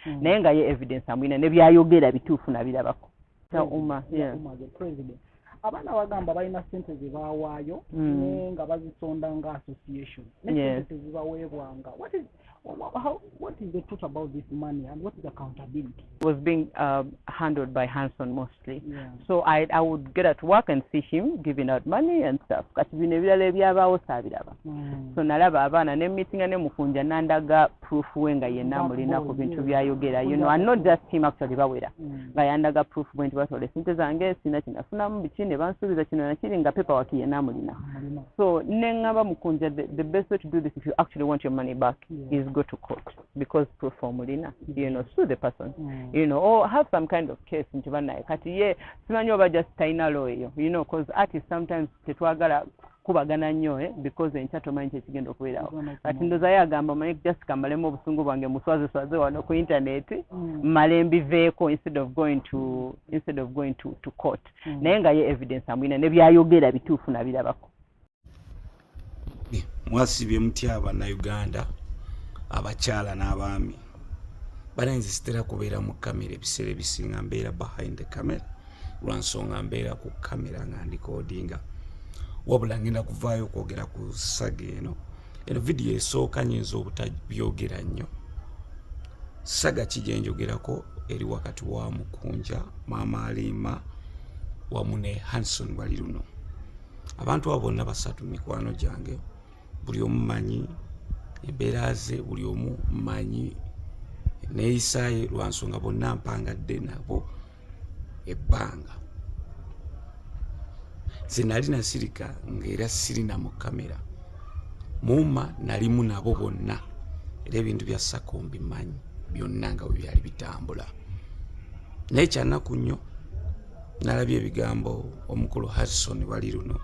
mm. naye nga ye evidence amulina nebyayogera bituufu nabirabako abaana bagamba balina sente zebawaayo mm. nga bazisonda nga association nesente tezibaweebwanga What is the truth about this money and what is accountability? It was being uh, handled by Hanson Moss. honestly yeah. so I, i would get at work and see him giving out money and stuff kati bino ebirala ebyabaawo saabiraba mm. so nalaba abaana ne meetinga ne mukunja nandaga proof we nga yenna mulina ku bintu byayogera you know and not just him actually bawera mm. nga yandaga proof bwe nti batoola esente zange sina kinafunamu biki ne bansuubiza kino nakiri nga paper waki yenna mulina so ne ngamba mukunja the, the best way to do this if you actually want your money back yeah. is go to court because proof omulina mm. you know sue the person mm. you know or have some kind of case nti banaye kati ye simanyi oba just taina law eyo you know cause artist sometimes tetwagala kubagana nnyo eh, because enkya tomanyi kyekigenda okubeerawo kati ndoza ye agamba manyi just kamalemu obusungu bwange muswazeswaze wano ku internet mm. male mbiveeko instead of going to mm. instead of going to, to court mm. naye nga ye evidence amwina nebyayogera bituufu nabirabako mwasibye mutya bannayuganda abakyala n'abaami bananze sitera kubeera mu kamera ebiseera ebisinga mbeera behind the camera lwansonga mbeera ku kamera nga ndikodinga wabula ngenda kuvaayo okwogera ku saga eno eno vidiyo esooka nyinza obutabyogera nnyo saga ki gyenjogerako eri wakati wa mukunja maama aliima wamu ne hanson wali luno abantu abo bonna basatu mikwano gyange buli omu manyi embeera ze buli omu manyi neeyisaaye lwa nsonga bonna mpangadde nabo ebbanga nze nali nasirika ngaera sirina mu kamera muuma nalimu nabo bonna era ebintu bya sako mbimanyi byonna nga bwe byali bitambula naye kyanaku nnyo nalabye ebigambo omukulu harrison wali luno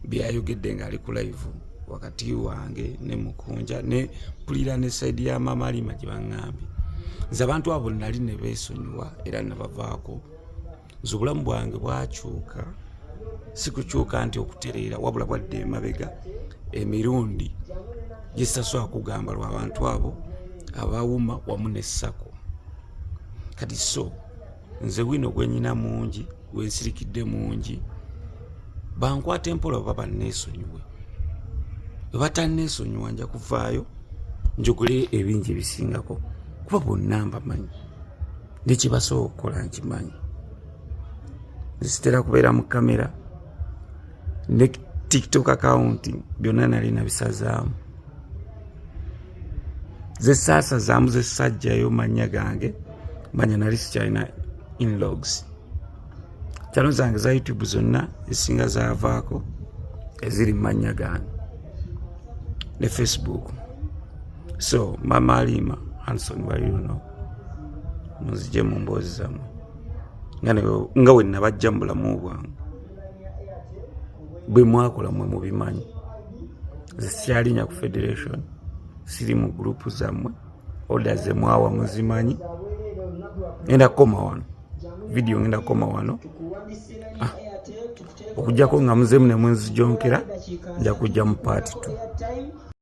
byayogedde ngaali ku laivu wakati wange ne mukunja ne pulira ne saidi ya mama alima gye baŋambye nze abantu abo nali ne beesonyiwa era nabavaako nze obulamu bwange bwakyuka sikukyuka nti okutereera wabula bwadde emabega emirundi gyesasobola kugamba lwabantu abo abawuma wamu ne sako kati so nze wino gwenyina mungi gwensirikidde mungi bankwata empola oba banneesonyiwe webatanneesonyiwa nja kuvaayo njogole ebingi ebisingako kuba bonna mbamanyi nekyebasobola okukola nkimanyi nzitera kubeera mu kamera ne tiktok akawunti byonna nali nabisazaamu zesaasazaamu zesajjayo mannya gange manya nali sikyalina inlogs kyalo zange za youtube zonna ezisinga zavaako eziri mu mannya gange ne facebook so mama aliima hanson waliuno muzije mu mboozi zammwe nga wenabajja mu bulamu bwange bwe mwakola mwe mubimanyi nze sikyalinya ku federation siri mu gurupu zammwe oda ze mwawa muzimanyi ngenda kukoma wano vidiyo ngenda kukoma wano ah, okujjako nga muzemu ne munzijonkera nja kujja mu paati tu